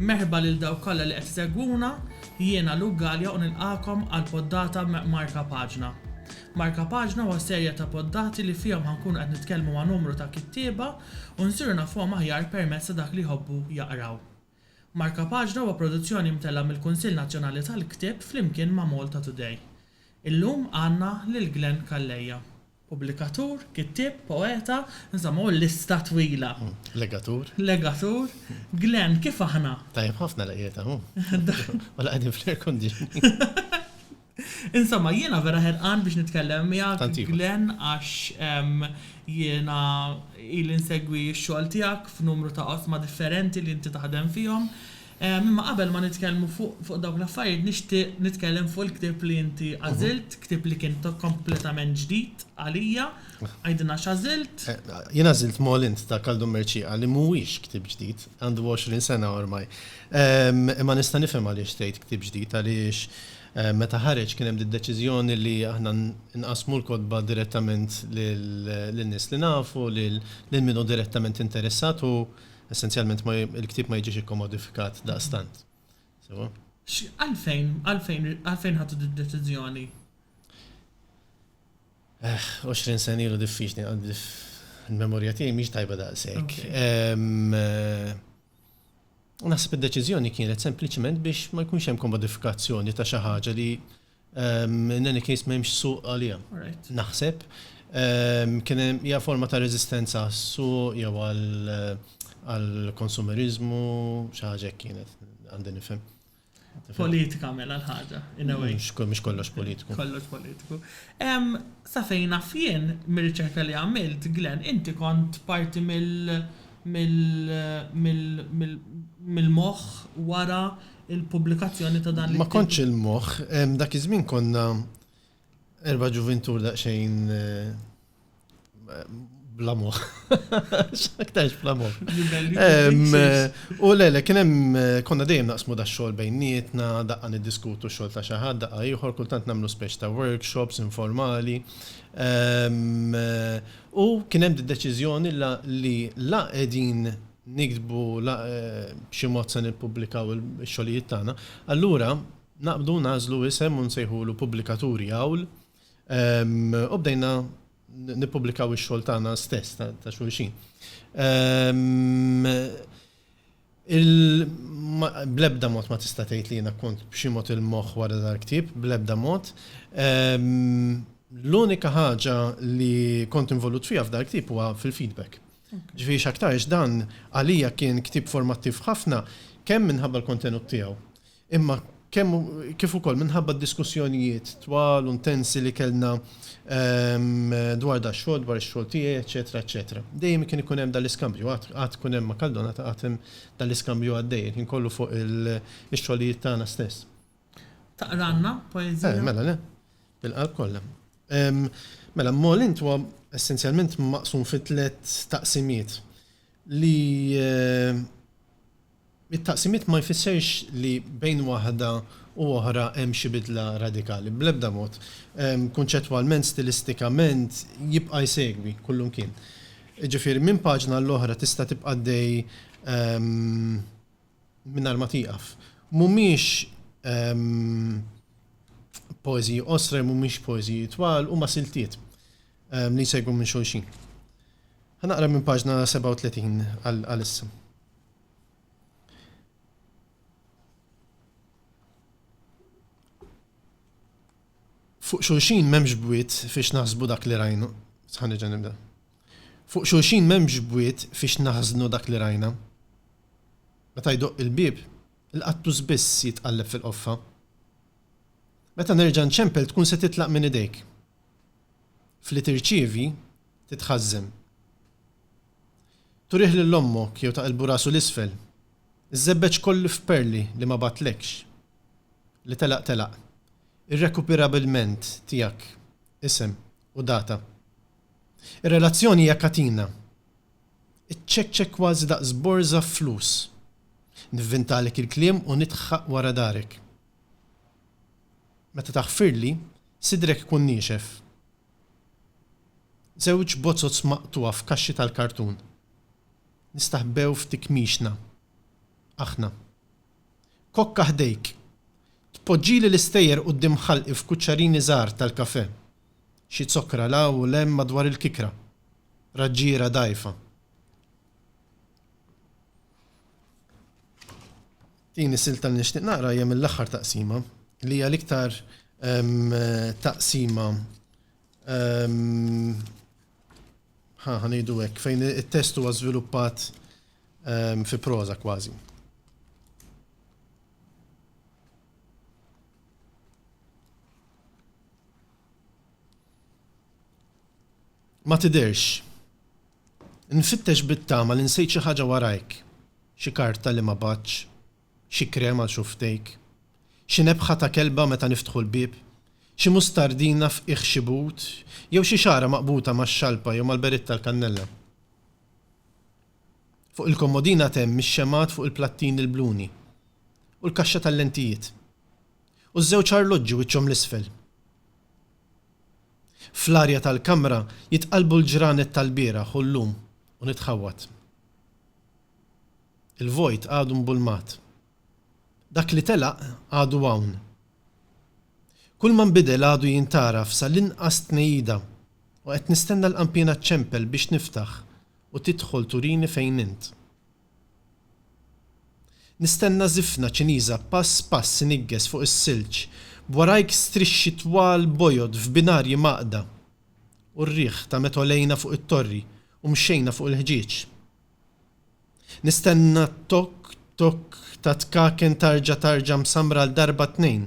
Merħba lil dawk kollha li qed isegwuna, jiena Luke Galea u nilqagħkom għal poddata ma' Marka Paġna. Marka Paġna huwa serje ta' poddati li fihom ħa nkunu qed nitkellmu ma' numru ta' kittieba u nsiru nafuhom aħjar permezz ta' dak li jħobbu jaqraw. Markapaġna huwa produzzjoni mtella' mill-Kunsill Nazzjonali tal-Ktieb flimkien ma' Malta Today. Illum għandna lil Glenn Calleja. Pubblikatur, kittieb, poeta, insomma hu lista twila. Legatur. Legatur. Glenn, kif aħna? Tajjeb ħafna laqgħiet hawn. Waqgħa qegħdin fl-air conditioning. Insomma, jiena vera ħerqan biex nitkellem miegħek, Glenn, għax jiena ili nsegwi x-xogħol tiegħek f'numru ta' oqsma differenti li inti taħdem fihom. Imma qabel ma nitkellmu fuq dawk l-affarijiet nixtieq nitkellem fuq il-ktieb li inti għażilt, ktieb li kien kompletament ġdid għalija. Għidilna x'għażilt? Jien għażilt Molins ta' Kaldun Mercieqa li mhuwiex ktieb ġdid, għandu 20 sena ormai. Imma nista' nifhem għaliex tgħid ktieb ġdid għaliex Meta ħareġ kien hemm d-deċiżjoni li aħna nqassmu l-kotba direttament lin-nies li nafu, lil min hu direttament interessat u essenzjalment il-ktieb ma jiġix ikkomodifikat daqstant. Sewwa? Għalfejn, għalfejn, għalfejn ħadtu d-deċiżjoni? Eħ, għoxrin sena ilu diffiċli għandi, il-memorja tiegħi mhix tajba daqshekk. U naħseb id-deċiżjoni kienet sempliċement biex ma jkunx hemm komodifikazzjoni ta' xi ħaġa li in any case m'hemmx suq għaliha. Naħseb kien hemm hija forma ta' reżistenza għas-suq jew għall-konsumeriżmu xi ħaġa hekk kienet għandi nifhem. Politika mela l-ħaġa, in a way. Mhux kollox politiku. Kollox politiku. Sa fejn naf jien, mir-riċerka li għamilt, Glenn, inti kont parti mill-moħħ wara l-pubblikazzjoni ta' dan l-. Ma kontx il-moħħ. Dak iż-żmien konna Erba' ġuvintur daqsxejn bla moħħ. X'aktarx bla moħħ. U le, le, kien hemm konna dejjem naqsmu da xogħol bejnietna, daqqa niddiskutu x-xogħol ta' xi ħadd, daqqa ieħor, kultant nagħmlu speċi ta' workshops informali. U kien hemm d-deċiżjoni li la qegħdin niktbu, la b'xi mod se nippubblikaw ix-xogħlijiet tagħna. Allura, Naqbdu nagħżlu isem u nsejħulu Pubblikaturi Għawl u bdejna nippubblikaw ix-xogħol tagħna stess ta' xulxin. Bl-ebda mod ma tista' tgħid li jiena kont b'xi mod il-moħħ wara dal-ktieb, bl-ebda mod. L-unika ħaġa li kont involut fiha f'dal-ktieb huwa fil-feedback. Ġifieri x'aktarx dan għalija kien ktieb formattiv ħafna kemm minħabba l-kontenut tiegħu, imma kemm kif ukoll minħabba d-diskussjonijiet twal u ntensi li kellna dwar dax-xogħol, dwar ix-xogħol tiegħi, eċċetera, eċċetera. Dejjem kien ikun hemm dan l-iskambju, għad għad ikun hemm ma' Caldona għad hemm dan l-iskambju għaddej il-ħin kollu fuq ix-xogħlijiet tagħna stess. Taqralna poeżija? Eh, mela le. Bil-qalb kollha. Mela, Molint huwa essenzjalment maqsum fi tliet taqsimiet li It-taqsimiet ma jfissirx li bejn waħda u oħra hemm xi bidla radikali, bl-ebda mod. Kunċettwalment, stilistikament, jibqa' jsegwi kullimkien. Jiġifieri minn paġna għall-oħra tista' tibqa' għaddej mingħajr ma tieqaf. Mhumiex poeżiji qosra jew mhumiex poeżiji twal, huma siltiet li jsegwu minn xulxin. Ħa naqra minn paġna 37 għalissa. Fuq xulxin memx bwiet fiex naħsbu dak li rajna. Sħani ġan nibda. Fuq xulxin memx bwiet fiex naħznu dak li rajna. Meta jdoq il-bib, il-qattu zbiss jitqalleb fil-qoffa. Meta nerġa' nċempel tkun se titlaq minn idejk. f'li tirċievi, titħażżen. Turih lil ommok jew taqilbu rasu 'l isfel, iż-żebbeġ kollu f'perli li ma bagħtlekx. Li telaq telaq. Irrekupirabilment tiegħek, isem u data. Ir-relazzjoni hija katina. Iċċekċek kważi daqs borża flus. Nivvintalek il-kliem u nidħħaq wara darek. Meta taħfirli, sidrek ikun niexef. Żewġ bozoz maqtugħa f'kaxxi tal-kartun. Nistaħbew f'tikmixna. Aħna. Kokka ħdejk. Tpoġġili l-istejjer quddiem ħalqi f'kuċċarini żgħar tal-kafè. Xi zokkra 'l hawn u 'l hemm madwar il-kikra. Raġġiera dgħajfa. Din is-silta li nixtieq naqra hija mill-aħħar taqsima, li hija l-iktar taqsima ħa ngħidu hekk, fejn it-test huwa żviluppat fi proża kważi. Ma tidherx Nfittex bit-tama li nsejt xi ħaġa warajk, xi karta li ma bagħtx, xi krem għal xufftejk, xi nebħa ta' kelba meta niftħu l-bieb, xi mustardina f'qiegħ xi but, jew xi xagħra maqbuta max-xalpa jew mal-beritt tal-kannella. Fuq il-kommodin għad hemm ix-xemgħat fuq il-plattin il-bluni, u l-kaxxa tal-lentijiet, u ż-żewġ arloġġi wiċċhom l-isfel. Fl-arja tal-kamra jitqallbu l-ġranet tal-bieraħ u llum u nitħawwad. Il-vojt għadu mbulmat. Dak li telaq għadu hawn. Kulma nbidel għadu jintgħaraf sa l-inqas tnejjida u qed nistenna l-qanpiena ċċempel biex niftaħ u tidħol turini fejn int. Nistenna żifna Ċiniża pass pass iniggeż fuq is-silġ, b'warajk strixxi twal bojod f'binarji mgħaqqda, u r-riħ ta' meta għolejna fuq it-torri u mxejna fuq il-ħġieġ. Nistenna t-tokk tokk ta' tkaken tarġa tarġa msammra għal darba tnejn,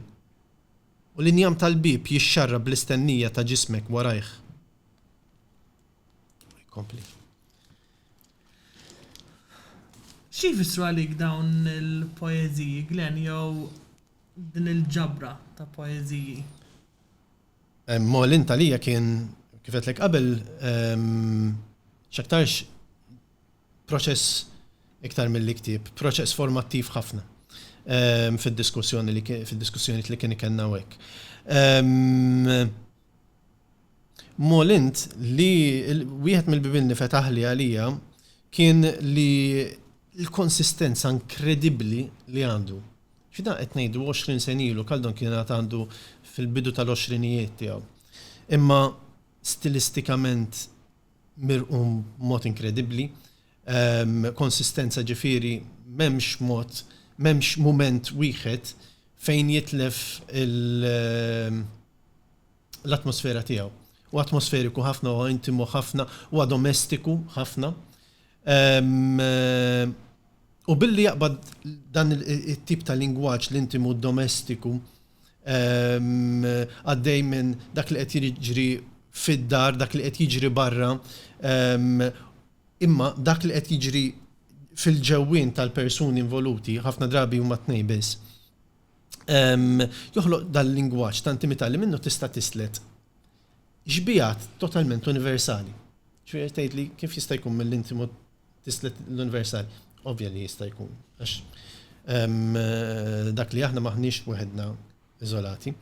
u l-injam tal-bieb jixxarrab bl-istennija ta' ġismek warajh. Xi jfissru għalik dawn il-poeżiji, Glenn, jew din il-ġabra ta' poeżiji? Molint għalija kien, kif għedtlek qabel, x'aktarx proċess iktar milli ktieb, proċess formattiv ħafna fid-diskussjoni li kien ikollna hawnhekk. Mol int li wieħed mill-bibien li fetaħli għalija kien li l-konsistenza inkredibbli li għandu. X'dan qed ngħidu 20 sen ilu, Kaldon kien għad għandu fil-bidu tal-għoxrinijiet tiegħu. Imma stilistikament mirqum mod inkredibbli, ehm, konsistenza ġifieri m'hemmx mod, m'hemmx mument wieħed fejn jitlef il- ehm, l-atmosfera tiegħu. Huwa atmosferiku ħafna, huwa intimu ħafna, huwa domestiku ħafna. U billi jaqbad dan it-tip ta' lingwaġġ l-intimu domestiku għaddej minn dak li qed jiġri fid-dar, dak li qed jiġri barra, imma dak li qed jiġri fil-ġewwien tal-persuni involuti, ħafna drabi huma tnejn biss. joħloq dal-lingwaġġ ta' intimità li minnu tista' tislet xbigħat totalment universali. Ġifieri tgħid li kif jista' jkun mill-intimu tislet l-universali? Ovvja li jista' jkun, għax dak li aħna maħniex weħedna iżolati.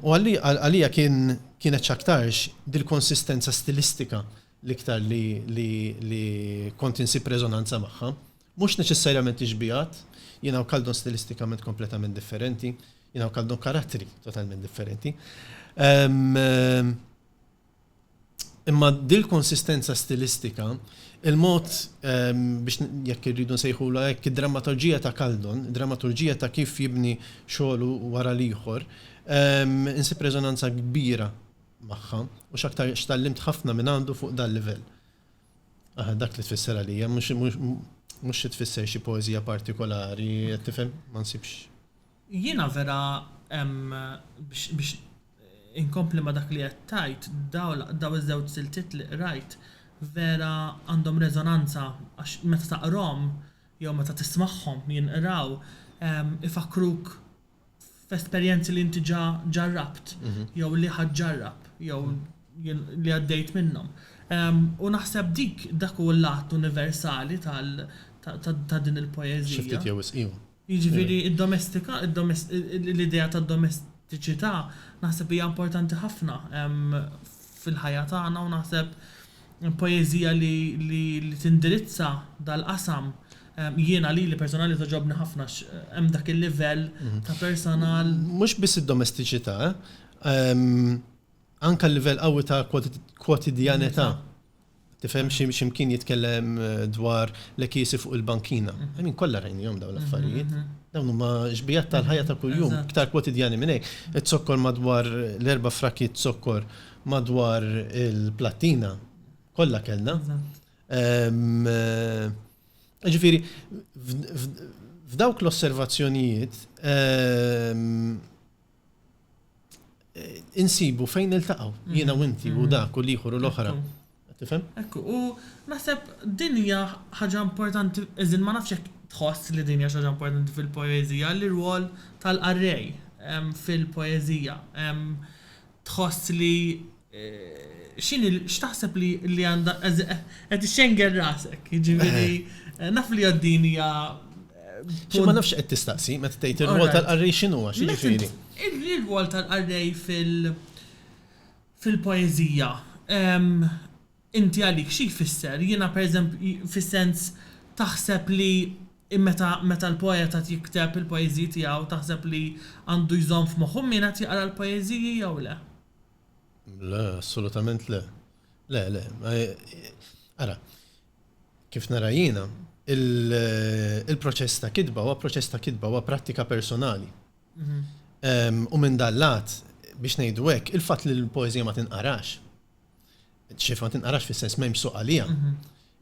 U għalija kienet x'aktarx dil-konsistenza stilistika l-iktar li kont insib reżonanza magħha. Mhux neċessarjament ixbiehat, jiena u Kaldun stilistikament kompletament differenti, jiena u Kaldun karattri totalment differenti. Imma dil-konsistenza stilistika, il-mod biex jekk irridu nsejħulha hekk, id-drammaturġija ta' Kaldun, id-drammaturġija ta' kif jibni xogħlu wara l-ieħor, insib reżonanza kbira magħha u x'aktar x'tgħallimt ħafna minn għandu fuq dal-livell. Aha, dak li tfisser għalija, mhux xi tfisser xi poeżija partikolari, qed tifhem? Ma nsibx. Jiena vera biex inkompli ma' dak li qed tgħid, dawn iż-żewġ siltiet li qrajt vera għandhom reżonanza għax meta taqrahom jew meta tismagħhom jinqraw ifakkruk f'esperjenzi li inti ġa ġarrabt jew li ħadd ġarrab jew li għaddejt minnhom. U naħseb dik dak hu l-lat universali tal ta' din il-poeżija. Xi ftit jew wisq iva. Jiġifieri d-domestika, l-idea tad-domestiċità naħseb hija importanti ħafna fil-ħajja tagħna u naħseb poeżija li li li tindirizza dal-qasam jiena lili personali togħġobni ħafna għax hemm dak il-livell ta' personal. Mhux biss id-domestiċità, anke l-livell qawwi ta' kwotidjanità. Tifhem xi mkien jitkellem dwar l-għekiesi fuq il-bankina. I mean kollha rajnihom dawn l-affarijiet. Dawn huma xbiehat tal-ħajja ta' kuljum, iktar kwotidjani minn hekk. Iż-zokkor madwar l-erba' frakkiet zokkor madwar il-plattina kollha kellna. Ġifieri, f'dawk l-osservazzjonijiet insibu fejn niltaqgħu jiena u inti u dak u l-ieħor u l-oħra. Tifhem? Hekk hu. Naħseb din hija ħaġa importanti, as in ma nafx jekk tħoss li din hija xi ħaġa importanti fil-poeżija, l-irwol tal-qarrej fil-poeżija. Tħoss li x'inhi, x'taħseb li li għandha, as in qed ixxenger rasek, jiġifieri naf li għad din hija Xi ma nafx x'qed tistaqsi meta tgħid ir-rwol tal-qarrej x'inhuwa, x'jiġifieri? Ir-rwol tal-qarrej fil- fil-poeżija, ehm, inti għalik xi jfisser? Jiena per eżemp, fis-sens taħseb li meta, meta l-poet qed jikteb il-poeżiji tiegħu taħseb li għandu jżomm f'moħħu min qed jaqra l-poeżiji jew le? Le, assolutament le. Le, le. Ara, kif nara jiena, il-proċess ta' kitba huwa proċess ta' kitba, huwa prattika personali. U minn dan lat, biex ngħidu hekk, il-fatt li l-poeżija ma tinqarax, xif ma tinqarax fis-sens m'hemmx suq għalija,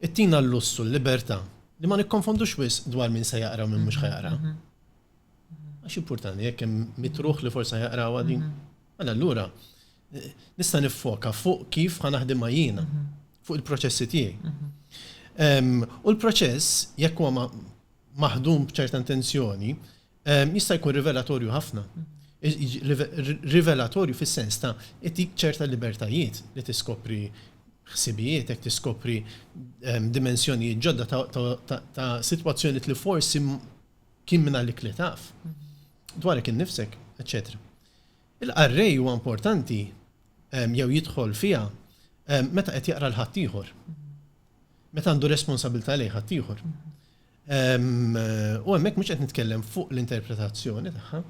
ittina l-lussu l-libertà li ma nikkonfondux wis dwar min se jaqra u min mhux ħajaqra. Għax importanti jekk hemm mitruħ li forsa jaqraw għadin. Mela allura nista' niffoka fuq kif ħa naħdimha jiena, fuq il-proċessi tiegħi. U l-proċess jekk huwa maħdum b'ċerta intenzjoni, jista' jkun rivelatorju ħafna. Rivelatorju fis-sens ta' itik ċerta libertajiet li tiskopri ħsibietek, tiskopri dimensjonijiet ġodda ta' sitwazzjonijiet li forsi kien minn għalik li taf dwarek innifsek, eċċetera. Il-qarrej huwa importanti jew jidħol fiha meta qed jaqra l-ħaddieħor. Meta għandu responsabilità lejn ħaddieħor. U hemmhekk mhux qed nitkellem fuq l-interpretazzjoni tagħha,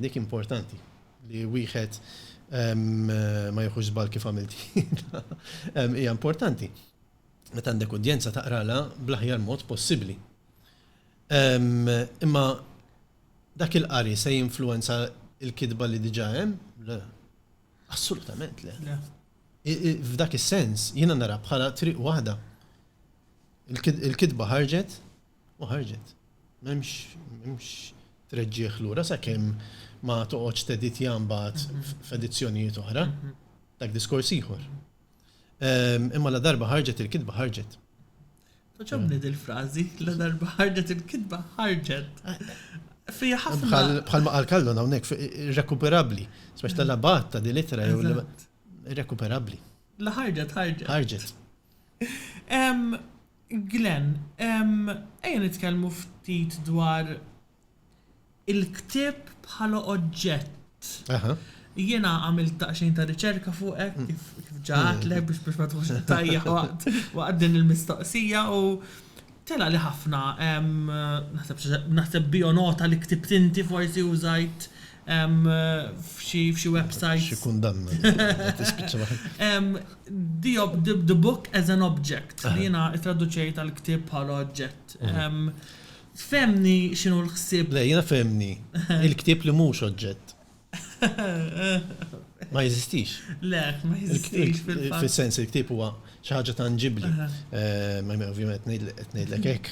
dik importanti li wieħed ma jieħux żball kif għamilt hija importanti. Meta għandek udjenza taqralha bl-aħjar mod possibbli. Imma dak il-qari se jinfluwenza l-kitba li diġà hemm? Le. Assolutament le. F'dak is-sens jiena nara bħala triq waħda. Il-kitba ħarġet u ħarġet. M'hemmx treġġigħ lura sakemm ma toqgħodx teditja mbagħad f'edizzjonijiet oħra. Dak diskors ieħor. Imma ladarba ħarġet il-kitba ħarġet. Toġobni dil-frażi, ladarba ħarġet il-kitba ħarġet. Fija ħafna. Bħal ma qal kallon hawnhekk irrekuperabbli. Spex tal-abat ta' dil-ittra jew irrekuperabbli. La ħarġet ħarġet. Ħarġet. Ehm, Glenn, ehm, ejja nitkellmu ftit dwar il-ktieb bħala oġġett. Aha. Jiena għamilt daqsxejn ta' riċerka fuqek, mm. kif ġaħatlek mm. biex biex ma tħux tajja waqt din il-mistoqsija u Tela' li ħafna, naħseb bionota li ktibt inti forsi użajt f'xi websajt. Xi kundanna li kellha tispiċċa waħedha. The book as an object, li jiena ttraduċejt għall-ktieb bħala oġġett. Fehmni x'inhu l-ħsieb. Le, jiena fehmni l-ktieb li mhux oġġett. Ma jeżistix. Le, ma jeżistix fil-fatt. Fis-sens li l-ktieb huwa xi ħaġa tanġibbli. Ovvjament qed ngħidlek hekk.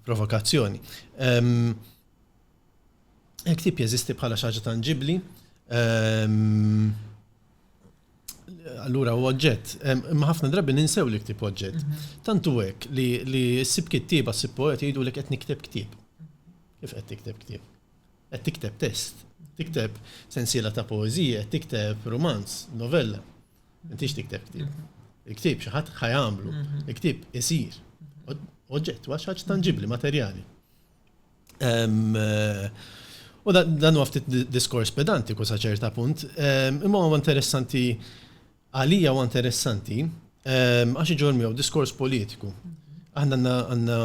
Provokazzjoni. Il-ktieb jeżisti bħala xi ħaġa tanġibbli. Allura huwa oġġett. Imma ħafna drabi ninsew li l-ktieb huwa oġġett. Tant hu hekk li ssib kittieba, ssib poeta jgħidulek qed nikteb ktieb. Kif qed tikteb ktieb? Qed tikteb test. Tikteb sensiela ta' poeżiji, qed tikteb rumanz, novella. M'intix tikteb ktieb. Il-ktieb xi ħadd ħajamlu. Il-ktieb isir. Oġġett, wa xaġ tanġibli, materjali. Eh, u dan huwa ftit diskors pedantiku sa ċerta punt, imma huwa interessanti Għalija huwa interessanti għax iġorr miegħu diskors politiku. Aħna għandna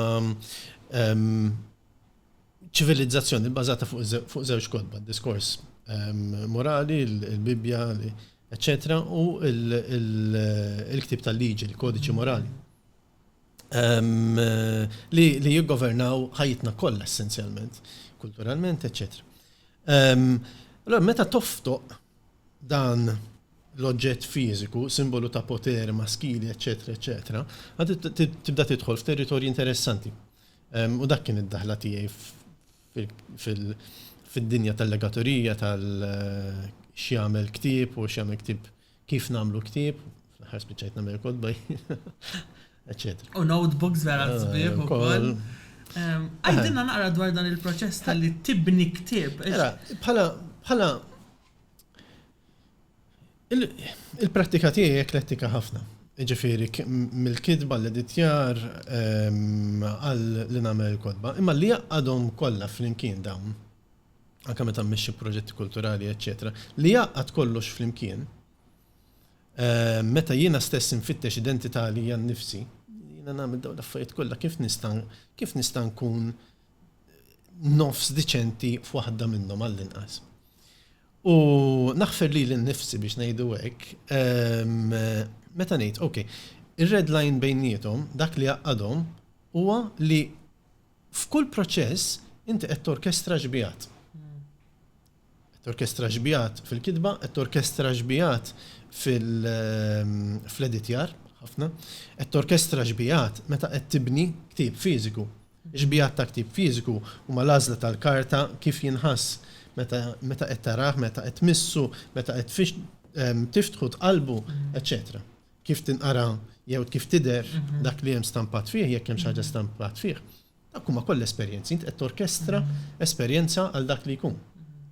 ċivilizzazzjoni bbażata fuq żewġ kodba, diskors morali, il-Bibbja, eċċetera, u l-ktib tal-liġi, il-kodiċi morali. Li jiggovernaw ħajjitna kollha essenzjalment, kulturalment, eċċetera. Allora meta toftoq dan l-oġġett fiżiku, simbolu ta' poter, maskili, eċċetera, eċċetera, tibda tidħol f'territorji interessanti. U dak kien id-daħla tiegħi fid-dinja tal-legaturija, tal-x'jagħmel ktieb u x'jagħmel ktieb kif nagħmlu ktieb, fl-aħħar spiċċajt nagħmel kotba, eċċetera. U notebooks vera l-sbieħ ukoll. Għajdilna naqra dwar dan il-proċess tal-li tibni ktieb. Bħala Il-prattika tiegħi eklettika ħafna. Jiġifieri mill-kitba, l-editjar, għal li nagħmel il-kotba. Imma li jgħaqqadhom kollha flimkien dawn, anke meta mmexxi proġetti kulturali, eċċetera, li jgħaqqad kollox flimkien, meta jiena stess infittex identità għalija nnifsi, jiena nagħmel dawn l-affarijiet kollha kif nista' kif nista' nkun nofs diċenti f'waħda minnhom għall-inqas. U naħfer li l-nifsi biex ngħidu hekk, ehm, meta ngħid, ok, ir-red line bejnietom, dak li għaqqadhom, huwa li f'kull proċess inti qed torkestra xbijat. Qed torkestra xbigħat fil-kitba, qed torkestra xbigħat fl-editjar, ħafna, qed torkestra xbigħat meta qed tibni ktieb fiżiku. Ix-xbigħat ta' ktieb fiżiku huma l-għażla tal-karta, kif jinħass meta qed tarah, meta qed tmissu, meta qed tiftħu, tqallbu, eċċetera Kif tinqara jew kif tidher dak li hemm stampat fih, jekk hemm xi ħaġa stampat fih. Dak huma kollha esperjenzi, int qed torkestra esperjenza għal dak li jkun,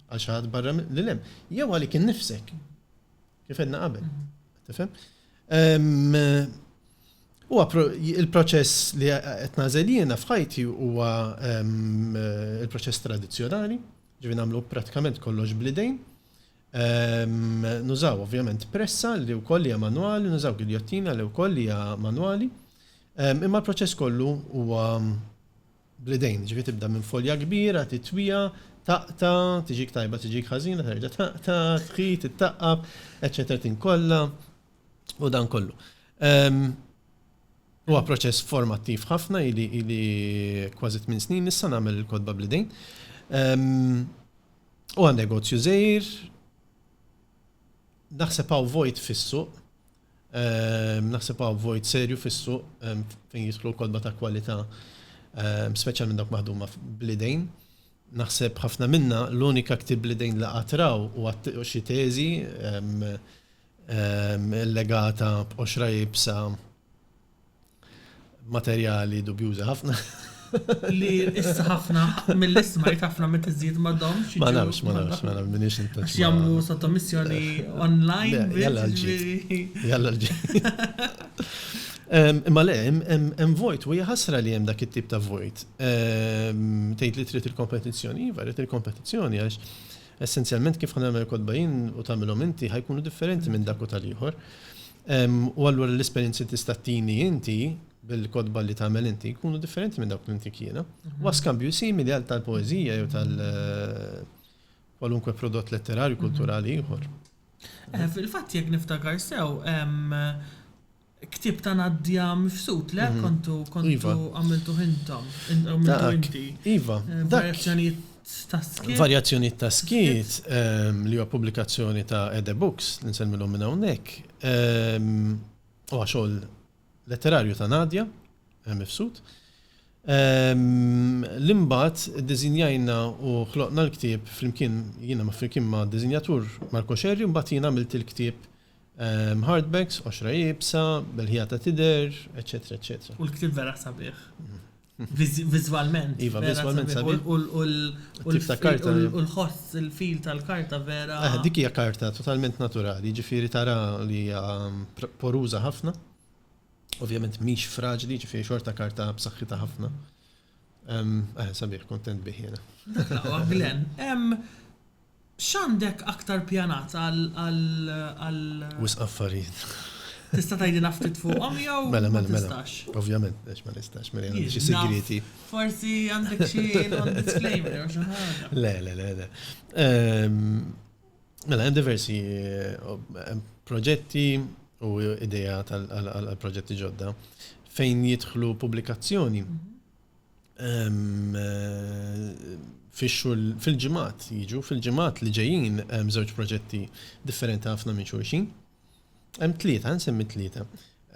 għal xi ħadd barra lil hemm, jew għalik innifsek, kif għedna qabel. Tifhem? Ehm, huwa il-proċess li qed nażel jiena f'ħajti huwa ehm, il-proċess tradizzjonali, ġivi nagħmlu pratikament kollox bl-idejn, Nużaw ovvjament pressa li wkoll hija manwali, nużaw giljottina li wkoll hija manwali. Imma l-proċess kollu huwa bl-idejn, ġifi tibda minn folja kbira, titwija, taqta, tiġik tajba, tiġik ħażina, terġa' taqta, tħit, ittaqqab, eċċetera tinkolla u dan kollu. Huwa proċess formattiv ħafna ili kważi tmien snin issa nagħmel il-kotba bl-idejn. U għan negozju żgħir, naħseb hawn vojt fis-suq, ehm, naħseb hawn vojt serju fis-suq ehm, fejn jidħlu kodba ta' kwalità, ehm, speċjalment dawk maħduma bl-idejn. Naħseb ħafna minna l-unika ktib bl-idejn li qatraw u xi teżi legata b'qoxra jibsa Materjali dubjużi ħafna. Li issa ħafna mill-ismajt ħafna meta żżid ma domx. Ma nafx, ma nafx, ma nafx minix intax. Għax jagħmlu sottomissjoni online. Jalla l-ġid. Jalla l-ġid. Imma le, hemm vojt, u jħasra li hemm dak it-tip ta' vojt. Tgħid li trid il-kompetizzjoni, iva, trid il-kompetizzjoni għax essenzjalment kif ħanagħmel kodba jien u tagħmilhom inti ħajkunu differenti minn dak u tal-ieħor. U allura l-esperjenzi li tista' tini inti bil-kotba li tagħmel inti jkunu differenti minn dawk li ntik jiena. Huwa skambju simili għal tal-poeżija jew tal- kwalunkwe prodott letterarju mhm. kulturali ieħor. Eh, fil-fatt jekk niftakar sew, ktib ta' Nadja Mifsud, le mhm. kontu kontu iva. għamiltu hintom, għamiltu inti. Iva, eh, dak. ta' skiet. Varjazzjonijiet ta' skiet li huwa pubblikazzjoni ta' Ede Books, li nsemmilhom minn hawnhekk, huwa xogħol letterarju ta' Nadia Mifsud. Li mbagħad iddiżinjajna u ħloqna l-ktieb flimkien jiena ma' flimkien ma' diżinjatur Marco Scerri u mbagħad jien għamilt il-ktieb hardbacks, qoxra iebsa, b'elħija ta' tidher, eċċetera, eċċetera. U l-ktieb vera sabiħ. Vizualment. Iva, vizualment sabiħ. U l-ħoss il-fil tal-karta vera. Eh, dik hija karta totalment naturali, ġifieri tara li hija um, poruża ħafna. Ovvjament mhix fraġli, ġifieri xorta karta b'saħħitha ħafna. Eh, sabiħ, kontent bih jiena. Għaglen, X'għandek aktar pjanat għal. Wisq affarijiet. Tista' tgħidilna ftit fuqhom jew ma tistax? Mela, mela, mela. Ovvjament, għax ma nistax, mela għandi xi sigrieti. Forsi għandek xi non-disclaimer jew xi ħaġa. Le, le, le, le. Mela, hemm diversi proġetti u idea tal-proġetti ġodda fejn jidħlu pubblikazzjoni fix-xhur fil-ġimgħat jiġu, fil-ġimgħat li ġejjin hemm żewġ proġetti differenti ħafna minn xulxin. Hemm tlieta, nsemmi tlieta.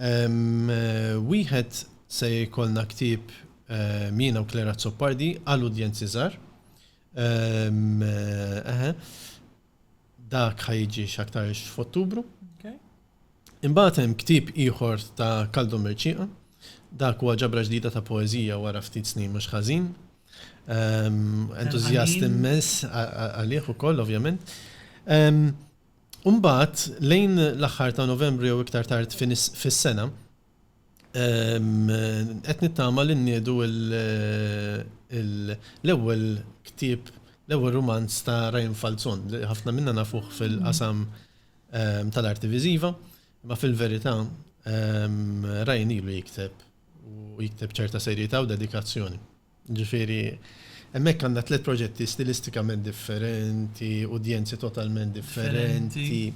Wieħed se jkollna ktieb jiena u Claire Azzopardi għal udjenzi żgħar. Dak ħa jiġi x'aktarx f'Ottubru. Imbagħad hemm ktieb ieħor ta' Kaldu Mercieqa. Dak huwa ġabra ġdida ta' poeżija wara ftit snin mhux ħażin. Entużjast immens għalih ukoll ovvjament. Imbagħad lejn l-aħħar ta' Novembru jew iktar tard fis-sena, Qed nittama li nniedu l-ewwel ktieb, l-ewwel rumanz ta' Ryan Falzon, li ħafna minna nafuh fil-qasam tal-arti viżiva, imma fil-verità Ryan ilu jikteb u jikteb b'ċerta serjetà u dedikazzjoni. Jiġifieri, hemmhekk għandna tliet proġetti stilistikament differenti, udjenzi totalment differenti.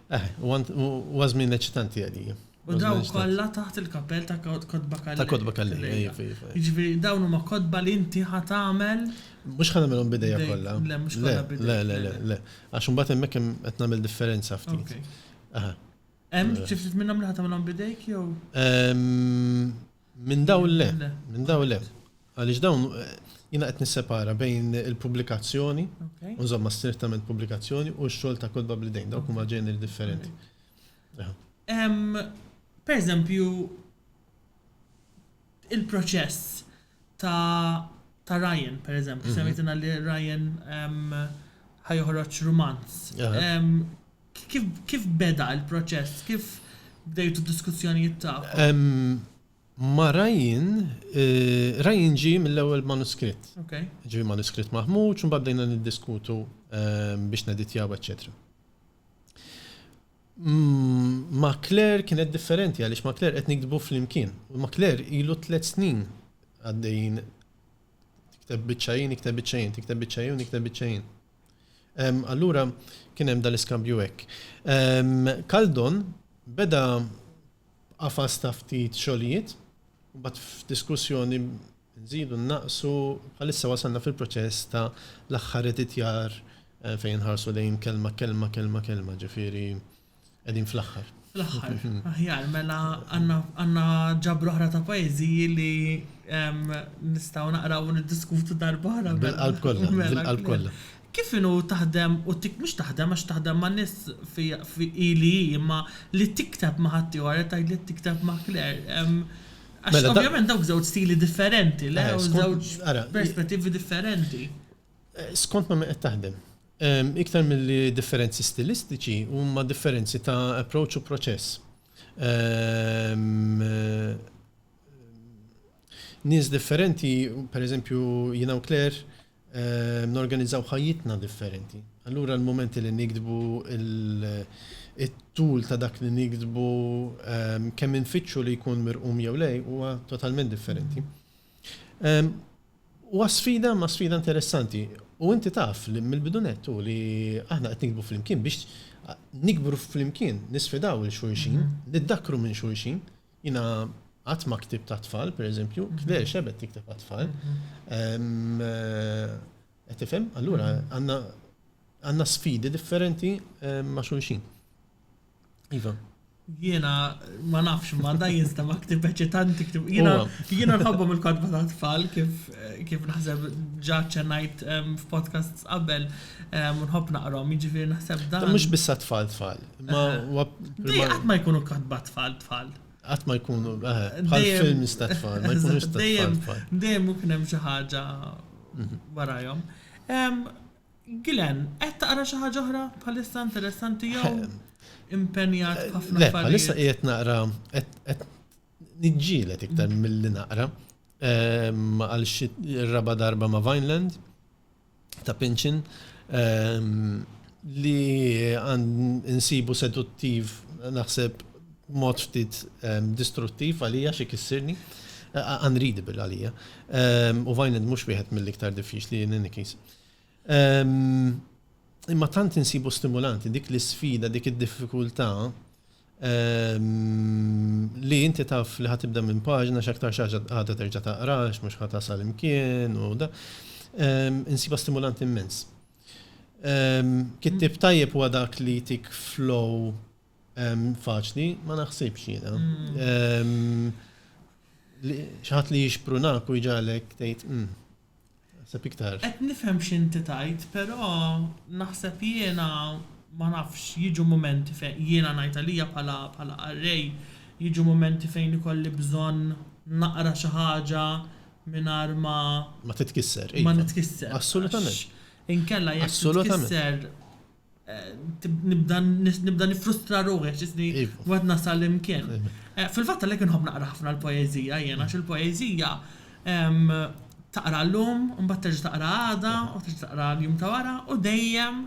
Eħe, huwa żmien eċitanti għalija. U dawn kollha taħt il-kapell ta' Kotba Kalleja. Ta' Kotba Kalleja, iva, iva. Jiġifieri dawn huma kotba li inti ħa tagħmel? Mhux ħa nagħmilhom b'idejja kollha. Le, mhux kollha b'idejja. Le, le, le, le, le. Għax imbagħad hemmhekk hemm qed nagħmel differenza ftit. Hemm xi ftit minnhom li ħa tagħmilhom b'idejk jew? Minn dawn le, minn dawn le. Għaliex dawn jiena qed nissepara bejn il-pubblikazzjoni, u nżommha strettament pubblikazzjoni, u x-xogħol ta' kotba bl-idejn. Dawk huma ġeneri differenti. Pereżempju, il-proċess ta' Ryan, pereżempju, semmejtilna li Ryan ħa joħroġ rumanz. Kif kif beda il-proċess? Kif bdejtu d-diskussjonijiet tagħkom? Ma' Ryan, Ryan ġie mill-ewwel manuskritt. Okay. Ġie manuskritt maħmuġ u mbagħad bdejna niddiskutu biex neditjaw, eċċetera. Ma' Claire kienet differenti għaliex ma' Claire qed nikdbu flimkien. Ma' Claire ilu tliet snin għaddejjin tikteb biċċa hi, nikteb biċċa jien, tikteb biċċa hi u nikteb biċċa jien. Allura kien hemm dal-iskambju hekk. Kaldon beda b'qafas ta' ftit xogħlijiet, imbagħad f'diskussjoni nżidu, nnaqqsu, bħalissa wasalna fil-proċess ta' l-aħħar editjar fejn inħarsu lejn kelma, kelma, kelma, kelma, ġifieri Qegħdin fl-aħħar. Fl-aħħar. Aħjar, mela għandna ġabru oħra ta' poeżiji li nistgħu naqraw u niddiskutu darba oħra. Mela. Bil-qalb kollha, mela, bil-qalb kollha. Kif inhu taħdem u tik mhux taħdem għax taħdem ma' nies fi ili imma li tikteb ma' ħaddieħor qed tgħidli tikteb ma' Claire. Għax mela, ovvjament dawk żewġ stili differenti, le? Żewġ perspettivi differenti. Skont ma' min qed taħdem. Iktar milli differenzi stilistiċi, huma differenzi ta' approach u proċess. Nies differenti, pereżempju jiena u Claire, norganizzaw ħajjitna differenti. Allura l-mumenti li niktbu, it-tul ta' dak li niktbu, kemm infittxu li jkun mirqum jew le, huwa totalment differenti. Huwa sfida ma sfida interessanti u inti taf li mill-bidu nett hu li aħna qed nikbu flimkien biex nikbru flimkien, nisfidaw lil xulxin, niddakkru minn xulxin. Jiena qatt ma ktibt għat-tfal, per eżempju, Claire x'ebgħet tikteb għat-tfal. Qed tifhem? Allura għandna sfidi differenti ma' xulxin. Iva. Jiena ma nafx ma da jinstema ktib eċitanti ktib. Jiena jiena nħobbhom il-kodba ta' tfal kif kif naħseb ġa ċenajt ehm, f'podcasts qabel ehm, u nħobb naqrom, jiġifieri naħseb dan. Mhux biss tfal tfal. Ma Dej qatt ma jkunu kodba tfal tfal. Qatt ma jkunu eh, bħal films ta' tfal, ma jkunux ta' tfal tfal. Dejjem u kien hemm xi ħaġa mhm. warajhom. Ehm, Glenn, qed taqra xi ħaġa oħra bħalissa interessanti jew impenjat ħafna Le, bħalissa qiegħed naqra qed niġġielet iktar mm. milli naqra ehm, għal xi raba darba ma' Vineland ta' Pinchin ehm, li għand insibu seduttiv naħseb mod ftit ehm, distruttiv għalija xi kissirni unreadable għalija. U Vineland mhux wieħed mill-iktar diffiċli in any case. Imma tant insibu stimulanti dik l-isfida, dik id-diffikultà li inti taf li ħatibda minn paġna x'aktar xaġa ħadha terġa' taqrax, mhux ħa tasal imkien u da. Insiba stimulanti immens. Kittib tajjeb huwa dak li tik flow faċli, ma naħsibx jiena. Xaħat li jixprunak u jġalek tgħid, Naħseb iktar. Qed nifhem x'inti tgħid, però naħseb jiena ma nafx, jiġu mumenti fejn, jiena ngħid għalija bħala bħala qarrej, jiġu mumenti fejn ikolli bżonn naqra xi ħaġa mingħajr ma. Ma titkisser, iva. Ma nitkisser. Assolutament. Għax inkella jekk titkisser. Assolutament. Nibda nifrustra ruħi għax isni wieħed nasal imkien. Fil-fatt għalhekk inħobb naqra ħafna l-poeżija jien għax il-poeżija taqra llum, imbagħad terġa' taqra għada, u terġa' taqra l-jum ta' wara u dejjem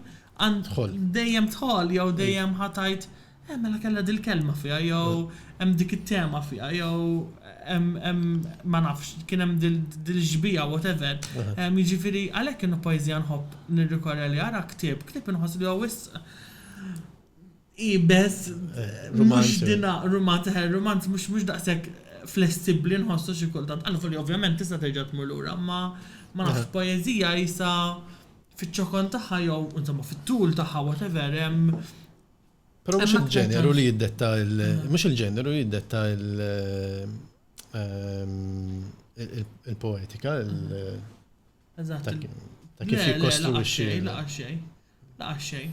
dejjem tħoll jew dejjem ħa tgħid Eh mela kellha dil-kelma fiha jew hemm dik it-tema fiha jew hemm hemm ma nafx kien hemm dil-xbieha whatever. Jiġifieri għalhekk kienu poeżija nħobb nirrikorri għaliha ara ktieb. Ktieb inħoss li huwa wisq iebes mhux dina rumanz eħe rumanz mhux mhux daqshekk flessibbli nħossu xi kultant. Alvolja ovvjament tista' terġa' tmur lura imma ma nafx poeżija qisha fiċ-ċokon tagħha jew insomma fit-tul tagħha whatever hemm Però mhux il-ġeneru li jiddetta mhux il-ġeneru li jiddetta il-poetika ta' kif jikkostruwixxi. Laqax xejn, laqax xejn.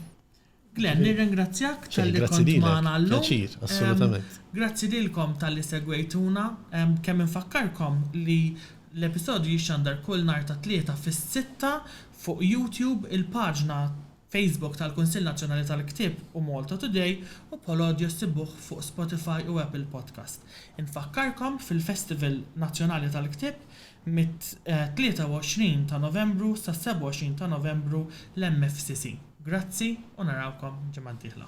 Glenn, nirringrazzjak tal-li kont magħna llum. Assolutament. Grazzi lilkom tal-li segwejtuna. Kemm infakkarkom li l-episodju jixxandar kull nhar tat-Tlieta fis-sitta fuq YouTube il-paġna Facebook tal-Kunsill Nazzjonali tal-Ktieb u Malta Today u Polodio ssibuh fuq Spotify u Apple Podcast. Infakkarkom fil-Festival Nazzjonali tal-Ktieb mit-23 ta' Novembru sas-27 ta' Novembru l-MFCC. Grazzi u narawkom ġimgħa d-dieħla.